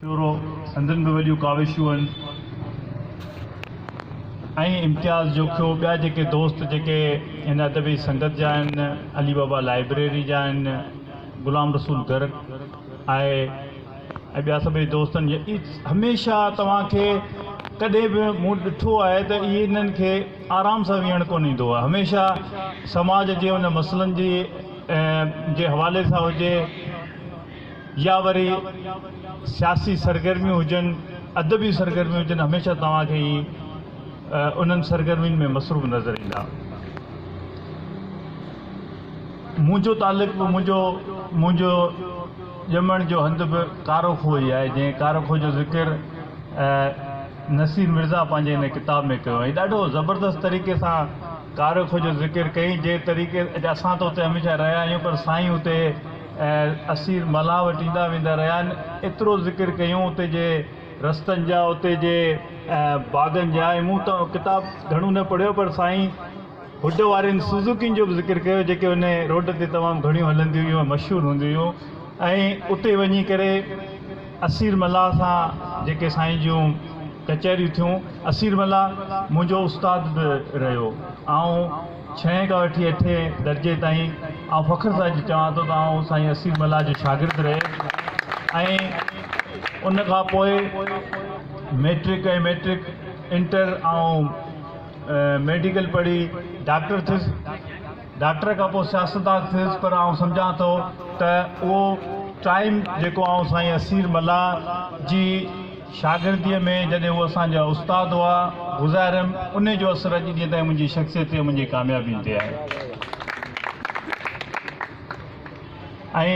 پيورو، سندن به وڏيون ڪاوشون هن. ۽ امتياز جوکيو، ٻيا جيڪي دوست جيڪي هن ادبي سنگت جا آهن، علي بابا لائبريري جا آهن، غلام رسول گرڪ آهي ۽ ٻيا سڀئي دوستن جي اي هميشه توهان کي ڪڏهن به مون ڏٺو آهي ته اي انهن کي آرام سان ويهڻ ڪونه ايندو آهي هميشه سماج جي ان مسئلن جي جي حوالي سان هجي يا وري سياسي سرگرميون هجن، ادبي سرگرميون هجن هميشه توهان کي هي انهن سرگرمين ۾ مصروف نظر ايندا. منهنجو تعلق به منهنجو منهنجو ڄمڻ جو هنڌ به ڪارو کوهه ئي آهي جنهن ڪارو کوهه جو ذڪر نصير مرزا پنهنجي هن ڪتاب ۾ ڪيو ۽ ڏاڍو زبردست طريقي سان ڪارو کوهه جو ذڪر ڪيائين جنهن طريقي اسان ته اتي هميشه رهيا آهيون پر سائين اتي ۽ اسير ملاح وٽ ايندا ويندا رهيا آهن ايترو ذڪر ڪيون اتي جي رستن جا اتي جي باغن جا ۽ مون ته ڪتاب گهڻو نه پڙهيو پر سائين هوڊ وارين سوزوڪين جو به ذڪر ڪيو جيڪي ان روڊ تي تمام گهڻيون هلنديون هيون ۽ مشهور هونديون هيون ۽ اتي وڃي ڪري اسير ملاح سان جيڪي سائين جون ڪچهريون ٿيون اسير ملاح منهنجو استاد به رهيو آئون ڇهين کان وٺي اٺين درجي تائين آئون فخر سان اڄ چوان ٿو ته آئون سائين اسير ملاح جو شاگرد رهي ۽ ان کان پوء ميٽرڪ ۽ ميٽرڪ انٽر آئون ميڊيڪل پڙهي ڊاڪٽر ٿيس ڊاڪٽر کان پوء سياستدان ٿيس پر آئون سمجهان ٿو ته اهو ٽائيم جيڪو آئون سائين اسير ملاح جي شاگرديء ۾ جڏهن هو اسان جا استاد هئا، گذاريم، انهي جو اثر اڄ ڏينهن تائين منهنجي شخصيت تي ۽ منهنجي ڪاميابين تي آهي. ۽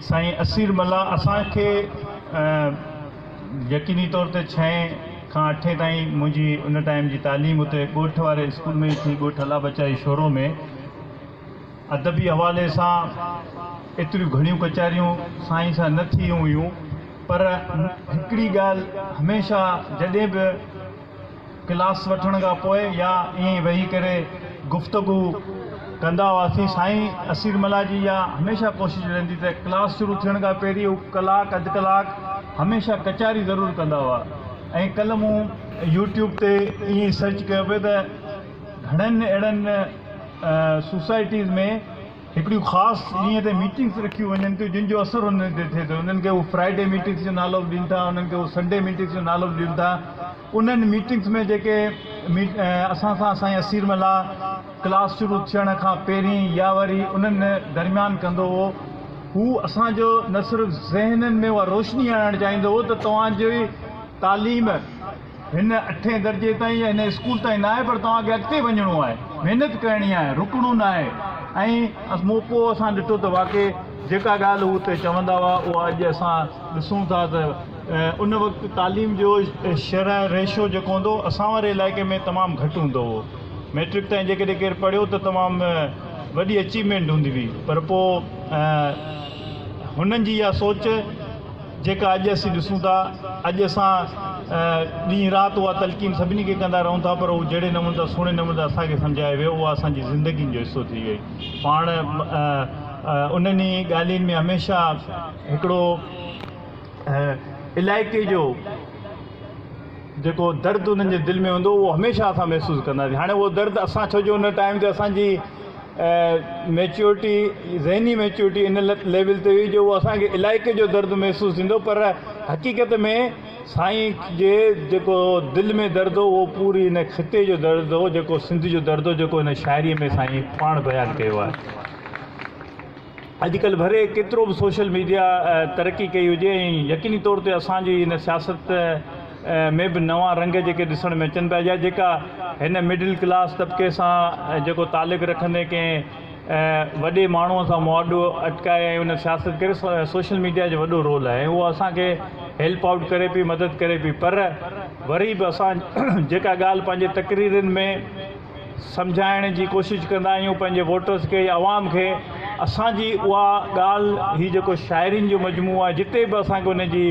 سائين اسير ملاح اسان کي يقيني طور تي ڇهين کان اٺين تائين منهنجي ان ٽائيم جي تعليم اتي ڳوٺ واري اسڪول ۾ ئي ٿي، ڳوٺ الله بچائي شورو ۾. ادبي حوالي سان ايتريون گهڻيون ڪچهريون سائين سان نه ٿيون هيون پر هڪڙي ڳالهه هميشه جڏهن به ڪلاس وٺڻ کان پوء يا ائين ويهي ڪري گفتگو ڪندا هئاسين سائين اسير ملاح جي اها هميشه ڪوشش رهندي ته ڪلاس شروع ٿيڻ کان پهرين هو ڪلاڪ اڌ ڪلاڪ هميشه ڪچهري ضرور ڪندا هئا ۽ ڪلهه مون يوٽيوب تي ائين سرچ ڪيو پئي ته گهڻين اهڙين سوسائٽيز ۾ هڪڙيون خاص ڏينهن تي ميٽنگس رکيون وڃن ٿيون جن جو اثر انهن تي ٿئي ٿو انهن کي هو فرائيڊي ميٽنگس جو نالو به ڏين ٿا انهن کي هو سنڊي ميٽنگس جو نالو به ڏين ٿا انهن ميٽنگس ۾ جيڪي اسان سان سائين اسير ملاح ڪلاس شروع ٿيڻ کان پهرين يا وري انهن درميان ڪندو هو هو اسان جو نه صرف ذهنن ۾ اها روشني آڻڻ چاهيندو هو ته توهان جي تعليم هن اٺين درجي تائين يا هن اسڪول تائين ناهي پر توهان کي اڳتي وڃڻو آهي محنت ڪرڻي آهي رڪڻو ناهي ۽ مون پوء اسان ڏٺو ته واقعي جيڪا ڳالهه هو اتي چوندا هئا اها اڄ اسان ڏسون ٿا ته ان وقت تعليم جو شرح ريشو جيڪو هوندو هو اسان واري علائقي ۾ تمام گهٽ هوندو هو ميٽرڪ تائين جيڪڏهن ڪير پڙهيو ته تمام وڏي اچيومينٽ هوندي هئي پر پوء هنن جي اها سوچ جيڪا اڄ اسين ڏسون ٿا. اڄ اسان ڏينهن رات اها تلقين سڀني کي ڪندا رهون ٿا پر هو جهڙي نموني سان سهڻي نموني سان اسان کي سمجهايو ويو اها اسان جي زندگين جو حصو ٿي وئي. پاڻ انهن ئي ڳالهين ۾ هميشه هڪڙو علائقي جو جيڪو درد انهن جي دل ۾ هوندو هو هميشه اسان محسوس ڪنداسين. هاڻي اهو درد اسان ڇو جو ان ٽائيم تي اسان جي ميچورٽي ذهني ميچورٽي ان ليول تي هئي جو هو اسان کي علائقي جو درد محسوس ٿيندو پر حقيقت ۾ سائين جي جيڪو دل ۾ درد هو اهو پوري هن خطي جو درد هو جيڪو سنڌ جو درد هو جيڪو هن شاعري ۾ سائين پاڻ بيان ڪيو آهي اڄ ڪلهه ڀري ڪيترو به سوشل ميڊيا ترقي ڪئي هجي ۽ يقيني طور تي اسان جي هن سياست ۾ به نوان رنگ جيڪي ڏسڻ ۾ اچن پيا يا جيڪا هن مڊل ڪلاس طبقي سان جيڪو تعلق رکندي ڪنهن وڏي ماڻهو سان مواڊو اٽڪائي ۽ ان سياست ڪري سوشل ميڊيا جو وڏو رول آهي ۽ اهو اسان کي هيلپ آئوٽ ڪري پئي مدد ڪري پئي پر وري به اسان جيڪا ڳالهه پنهنجي تقريرن ۾ سمجهائڻ جي ڪوشش ڪندا آهيون پنهنجي ووٽرز کي يا عوام کي اسان جي اها ڳالهه هي جيڪو شاعرين جو مجموعو آهي جتي به اسان کي ان جي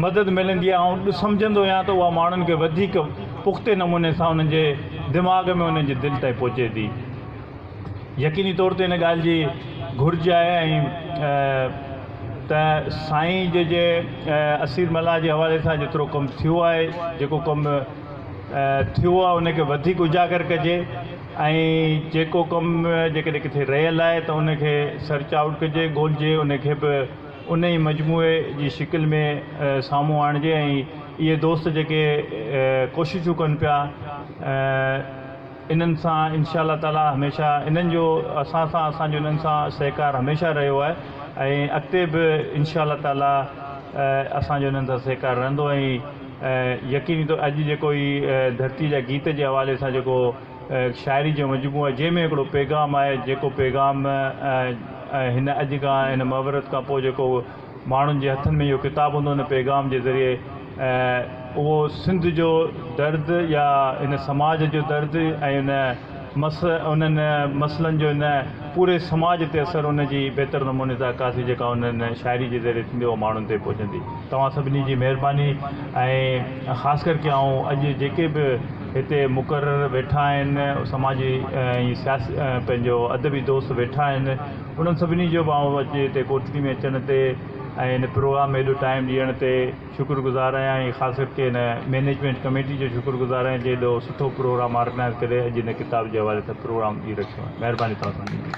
مدد ملندي آهي آئون سمجهندو آهيان ته اها ماڻهن کي وڌيڪ پختي نموني سان انهن جي دماغ ۾ انهن جي دل تائين پهچي ٿي يقيني طور تي ان ڳالهه جي گهرج آهي ۽ ته سائين جي جي اسير ملاح جي حوالي سان جيترو ڪم ٿيو آهي جيڪو ڪم ٿيو آهي ان کي وڌيڪ اجاگر ڪجي ۽ جيڪو ڪم جيڪڏهن ڪٿي رهيل آهي ته ان کي سرچ آئوٽ ڪجي ڳولجي ان کي به ان ئي مجموعي جي شڪل ۾ سامهون آڻجي ۽ اهي دوست جيڪي ڪوششون ڪن پيا انهن سان انشاء الله تعالٰي هميشه انهن جو اسان سان اسان جو انهن سان سهڪار هميشه رهيو آهي ۽ اڳتي به انشاء الله تعالٰي اسان جو انهن سان سهڪار رهندو ۽ ۽ يقيني طور اڄ جيڪو هي ڌرتي جا گيت جي حوالي سان جيڪو شاعري جو مجموعو آهي جنهن ۾ هڪڙو پيغام آهي جيڪو پيغام هن اڄ کان هن محاورت کان پوء جيڪو ماڻهن جي هٿن ۾ اهو ڪتاب هوندو ان پيغام جي ذريعي اهو سنڌ جو درد يا هن سماج جو درد ۽ ان مس انهن مسئلن جو نه پوري سماج تي اثر ان جي بهتر نموني سان عڪاسي جيڪا انهن شاعري جي ذريعي ٿيندي اها ماڻهن تي پهچندي توهان سڀني جي مهرباني ۽ خاص ڪر ڪي آئون اڄ جيڪي به هتي مقرر ويٺا آهن سماجي ۽ سياسي پنهنجو ادبي دوست ويٺا آهن انهن سڀني جو به آئون اڄ هتي ڪوٺڙي ۾ اچڻ تي ۽ ان پروگرام ۾ ايڏو ٽائيم ڏيڻ تي شڪر گذار آهيان ۽ خاص ڪر ڪي هن مينيجمينٽ ڪميٽي جو شڪر گذار آهيان جي ايڏو سٺو پروگرام آرگنائيز ڪري اڄ هن ڪتاب جي حوالي سان پروگرام ڏئي رکيو آهي مهرباني توهان سڀني جي.